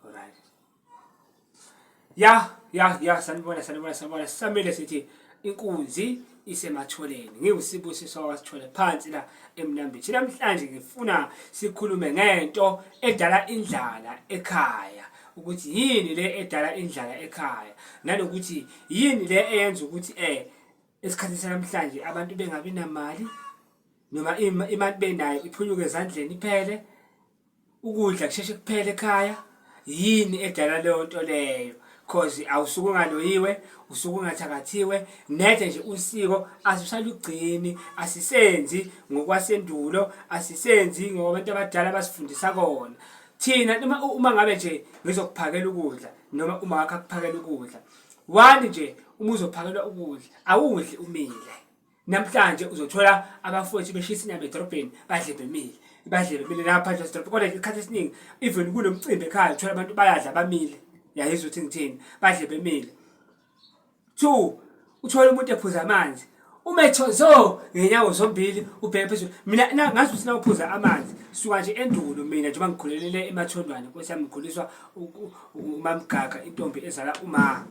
Alright. Ya, ya, ya sanibona sanibona sanibona samele sithi inkunzi isematholeni ngiwusibusiso wasithole phansi la emnambini thina namhlanje ngifuna sikhulume ngento edala indlala ekhaya ukuthi yini le edala indlala ekhaya nanokuthi yini le eyenza ukuthi eh esikhathini sanamhlanje abantu bengabi namali noma imali benayo iphunyuke ezandleni iphele ukudla kusheshe kuphele ekhaya yini edala leyo nto leyo cause awusuke ungaloyiwe usuke ungathakathiwe nethe nje usiko asisalugcini asisenzi ngokwasendulo asisenzi ngoba abantu abadala basifundisa kona thina uma uma ngabe nje ngizokuphakela ukudla noma uma wakha kuphakela ukudla wani nje uma uzophakelwa ukudla awudli umile namhlanje uzothola abafowethu beshisa inyama edorobheni badle bemile badle bemile lapha phandle esidorobheni kodwa isikhathi esiningi even kunomcimbi ekhaya uthola abantu bayadla bamile yayizwa ukuthi ngithini badle bemile two uthole umuntu ephuza amanzi umethozo ngenyawo zombili ubheke phezulu mina ngazi ukuthi nawuphuza amanzi suka nje endulo mina njengoba ngikhulelele emathondwane nkosi yami ngikhuliswa umamgaga intombi ezala umama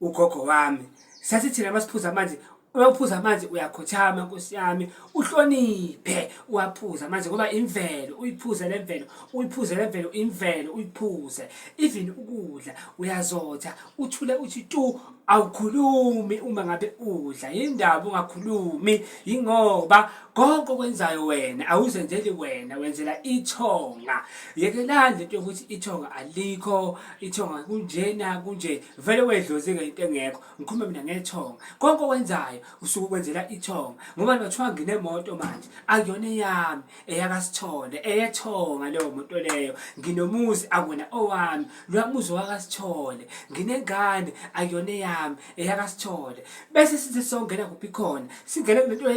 ugogo wami sathi thina masiphuza amanzi uma uphuza amanzi uyakhothama nkosi yami uhloniphe uwaphuza amanzi ngoba imvelo uyiphuze le mvelo uyiphuze le mvelo imvelo uyiphuze even ukudla uyazotha uthule uthi tu awukhulumi uma ngabe udla yindaba ungakhulumi yingoba konke okwenzayo wena awuzenzeli wena wenzela ithonga yekelani lento yokuthi ithonga alikho ithonga kunjena kunje vele wedlozike into engekho ngikhuluma mina ngethonga konke okwenzayo usuke ukwenzela ithonga ngoba nothiwa nginemoto manje akuyona eyami eyakasithole eyethonga leyo moto leyo nginomuzi akuyona owami lwamuzi wakasithole nginengane akuyona eyami eyakasithole bese sithi songena kuphi khona singena lento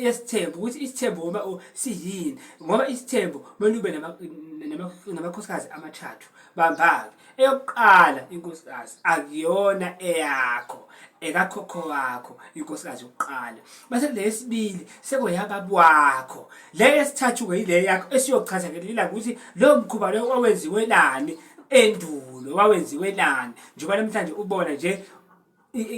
yesithembu ukuthi isithembu uma siyini ngoba isithembu kumele ube namakhosikazi amathathu bambake eyokuqala inkosikazi akuyona eyakho ekakhokho wakho inkosikazi yokuqala base kule yesibili sekoyababa wakho le yesithathu-ke yile yakho esiyochaza ngelela ukuthi lowo mkhuba lowo owenziwelani endulo wawenziwelani njengoba namhlanje ubona nje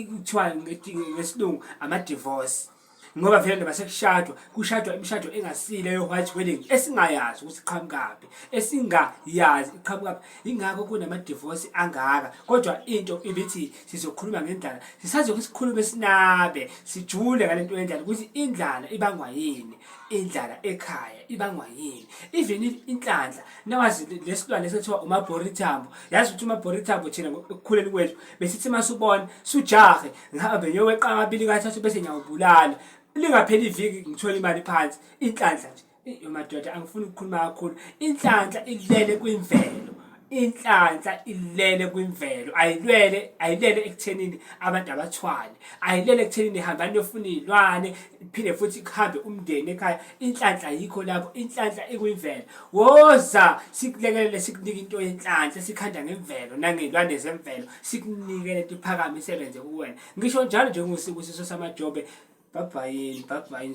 kuthiwa ngesilungu ama-divorce ngoba vele noma sekushadwa kushadwa imishado engasile yo-white wedding esingayazi ukuthi iqhamukaphi esingayazi iqhamukaphi yingakho kunama-divorce angaka kodwa into ibithi sizokhuluma ngendlala sisazoke sikhulume sinabe sijule ngale nto yendlala ukuthi indlala ibangwa yini indlala ekhaya ibangwa yini even inhlanhla nawazi lesilwane esethiwa umabhorithambo yazi ukuthi umabhorithambo thina ekukhuleni kwethu besithi uma subona sujahe ngihambe ngiyoweqa amabili kathathu bese ngiyawubulala lingapheli iviki ngithola imali phansi inhlanhla nje yomadoda angifuni ukukhuluma kakhulu inhlanhla ilele kwimvelo inhlanhla ilele kwimvelo ayilwele ayilele ekuthenini abantu abathwale ayilele ekuthenini hambani yofuna iy'lwane phinde futhi kuhambe umndeni ekhaya inhlanhla yikho lapho inhlanhla ikwimvelo woza sikulekelele sikunike into yenhlanhla sikhanda ngemvelo nangezilwane zemvelo sikunike lento iphakame isebenze kuwena ngisho njalo njengokusibusiso samajobe bhabhayini bhabhayini